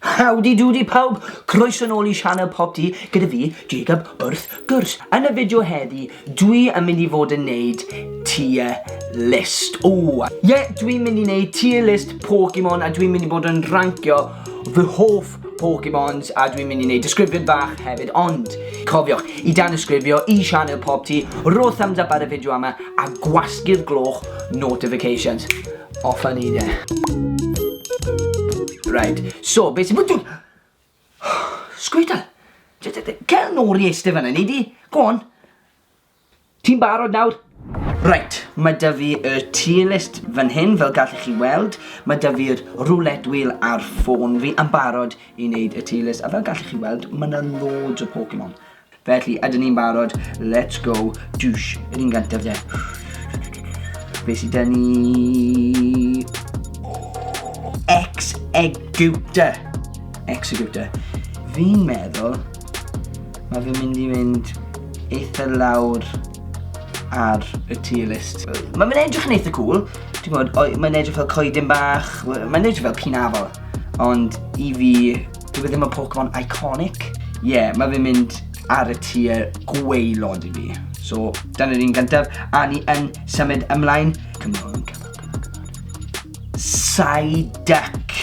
Howdy doody pawb, croeso nôl i sianel Pop Dee gyda fi, Jacob, wrth gwrs. Yn y fideo heddi, dwi yn mynd i fod yn neud tier list. O, ie, dwi'n mynd i neud tier list Pokemon a dwi'n mynd i bod yn rancio fy hoff Pokemons a dwi'n mynd i neud disgrifiad bach hefyd ond cofiwch i dan ysgrifio i sianel Pop Dee, rho thumbs up ar y fideo yma a gwasgu'r gloch notifications. Off a ni de. Right, so, beth sy'n fwtwn? Sgwydal! Cael nôl i eistedd fanna, ni di? Go on. Ti'n barod nawr? Right, mae da fi y tier list fan hyn, fel gallwch chi weld. Mae da fi'r roulette wheel ar ffôn fi yn barod i wneud y tier list. A fel gallwch chi weld, mae yna loads o Pokemon. Felly, ydyn ni'n barod? Let's go. Douche. Yr un gantaf de. Be sydd da ni? Executor. Executor. Fi'n meddwl, mae fi'n mynd i mynd eitha lawr ar y tier list. Mae'n mynd edrych yn eitha cool, ti'n gwybod, mae'n edrych fel coedyn bach, mae'n edrych fel pinafol, ond i fi, Dyw e ddim yn Pokemon iconic. Ie, yeah, mae fe'n mynd ar y tier gweilod i fi. So, dyna'r un gyntaf. A ni yn symud ymlaen. Cymryd, cymryd, cymryd. Psyduck.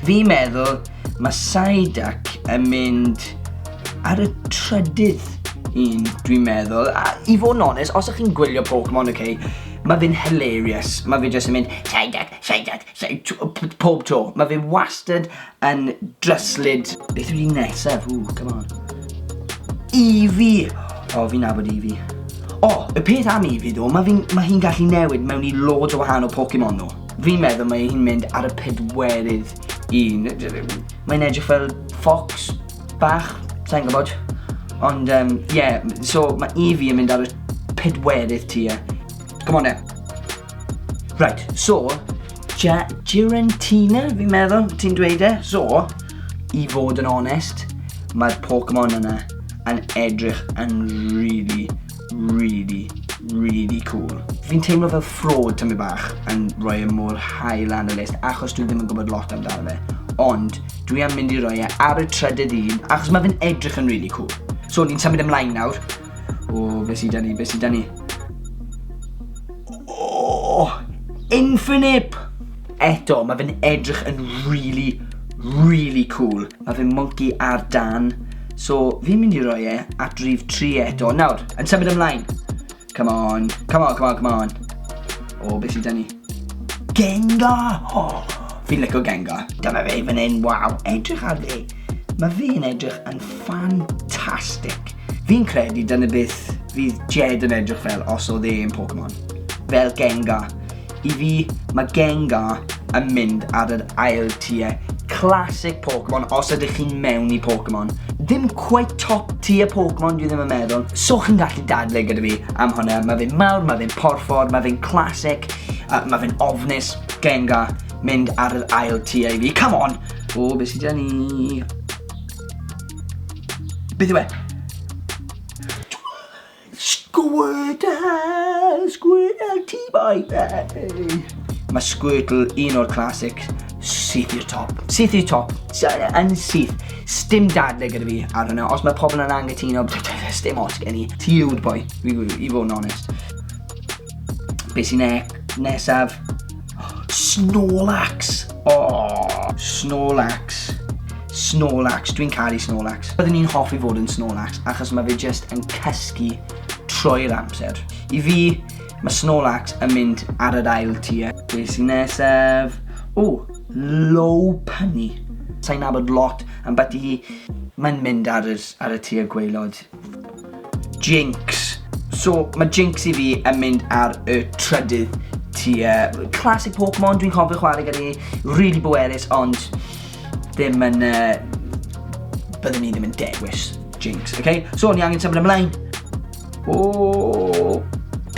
Fi meddwl mae Psyduck yn mynd ar y trydydd un, dwi'n meddwl. A i fod yn onest, os ych chi'n gwylio Pokemon, okay, mae fe'n hilarious. Mae fe jyst yn mynd, Psyduck, Psyduck, Pob tro. Mae fe wastad yn dryslyd. Beth yw'r un nesaf? Ww, come on. Efi! O, fi'n nabod Efi. O, y peth am Efi ddo, mae hi'n ma hi gallu newid mewn i loads o wahanol Pokemon nhw. Fi'n meddwl mae hi'n mynd ar y pedwerydd un. Mae'n edrych fel fox bach, sa'n gwybod. Ond, ie, um, yeah, so mae Efi yn mynd ar y pedwerydd tua. Come on then. Right, so, ja, Girentina, fi'n meddwl, ti'n dweud e? So, i fod yn onest, mae'r Pokemon yna yn edrych yn really, really, really cool. Fi'n teimlo fel ffrod tymi bach yn rhoi e mor high lan y list achos dwi ddim yn gwybod lot amdano fe. Ond dwi am mynd i roi e ar y trydydd un achos mae fe'n edrych yn really cool. So ni'n symud ymlaen nawr O, beth sydd da ni, beth sydd da ni? O, Infinip! Eto, mae fe'n edrych yn really, really cool. Mae fe'n monkey ar dan. So, fi'n mynd i roi e at rif 3 eto. Nawr, yn symud ymlaen. Come on, come on, come on, come on. O, beth sydd da ni? Gengar! Oh, fi'n licio Gengar. Dyma fe fan hyn, waw, edrych ar fe. Mae fe'n edrych yn ffantastig. Fi'n credu dyna beth fydd Jed yn edrych fel os oedd e yn Pokemon. Fel Gengar. I fi, mae Gengar yn mynd ar yr ail tier classic Pokemon os ydych chi'n mewn i Pokemon. Ddim quite top tier Pokemon dwi ddim yn meddwl. So chi'n gallu dadle gyda fi am hwnna. Mae fe'n mawr, mae fe'n porffor, mae fe'n classic, uh, mae fe'n ofnus, genga, mynd ar yr ail tier i fi. Come on! O, beth sydd gen i? Beth yw e? Squirtle! Squirtle T-boy! Mae Squirtle un o'r classic syth i'r top. Syth i'r top. Yn syth. Stim dadle gyda fi ar hwnna. Os mae pobl yn angytuno, stim os gen i. Ti yw'r boi, i fod yn onest. Be sy'n ne nesaf? Snorlax! Oh, Snorlax. Snorlax, dwi'n caru Snorlax. Byddwn ni'n hoffi fod yn Snorlax achos mae fe just yn cysgu trwy'r amser. I fi, mae Snorlax yn mynd ar yr ail tia. Be sy'n nesaf? O, low punny. Sa'n nabod lot am beth i hi. Mae'n mynd ar, ar y tia gweilod. Jinx. So, mae Jinx i fi yn mynd ar y trydydd tua. Classic Pokemon, dwi'n cofio chwarae gyda ni, really bwerus, ond ddim yn... Uh, byddwn ni ddim yn dewis Jinx, okay? So, ni angen symud ymlaen. O, oh,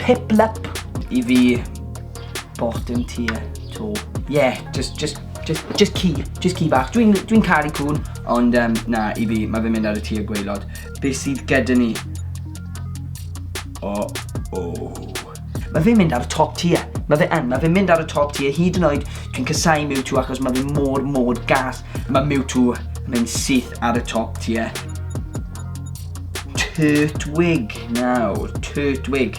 Piplup i fi bottom tier to. Yeah, just, just Just, just ci, just ci bach. Dwi'n dwi caru cŵn, ond um, na, i fi, mae fe'n mynd ar y tir gweilod. Be sydd gyda ni? O, oh, o. Oh. Mae fe'n mynd ar y top tier. Mae fe yn, mae fe'n mynd ar y top tier. Hyd yn oed, dwi'n cysau Mewtwo achos mae fe mor, mor gas. Mae Mewtwo yn mynd syth ar y top tier. Turtwig nawr, Turtwig.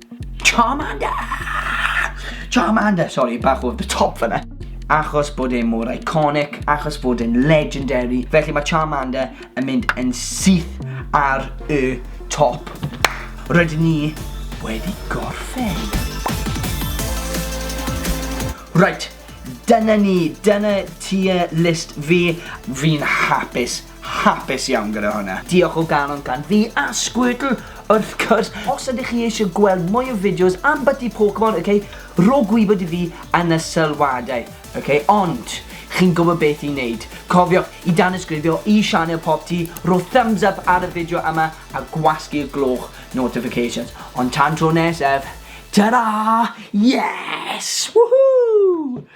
Charmander! Charmander! Sorry, bach o'r the top fanna. Achos bod e mor iconic, achos bod e'n legendary. Felly mae Charmander yn mynd yn syth ar y top. Rydyn ni wedi gorffen. Right, dyna ni, dyna tier list fi. Fi'n hapus hapus iawn gyda hwnna. Diolch o galon gan fi a Squirtle wrth cwrs. Os ydych chi eisiau gweld mwy o fideos am byty Pokemon, ok, rho gwybod i fi yn y sylwadau, ok, ond chi'n gwybod beth i wneud. Cofiwch i danysgrifio i sianel Popty, rho thumbs up ar y fideo yma a gwasgu'r gloch notifications. Ond tan tro nesaf, ta-ra! Yes! Woohoo!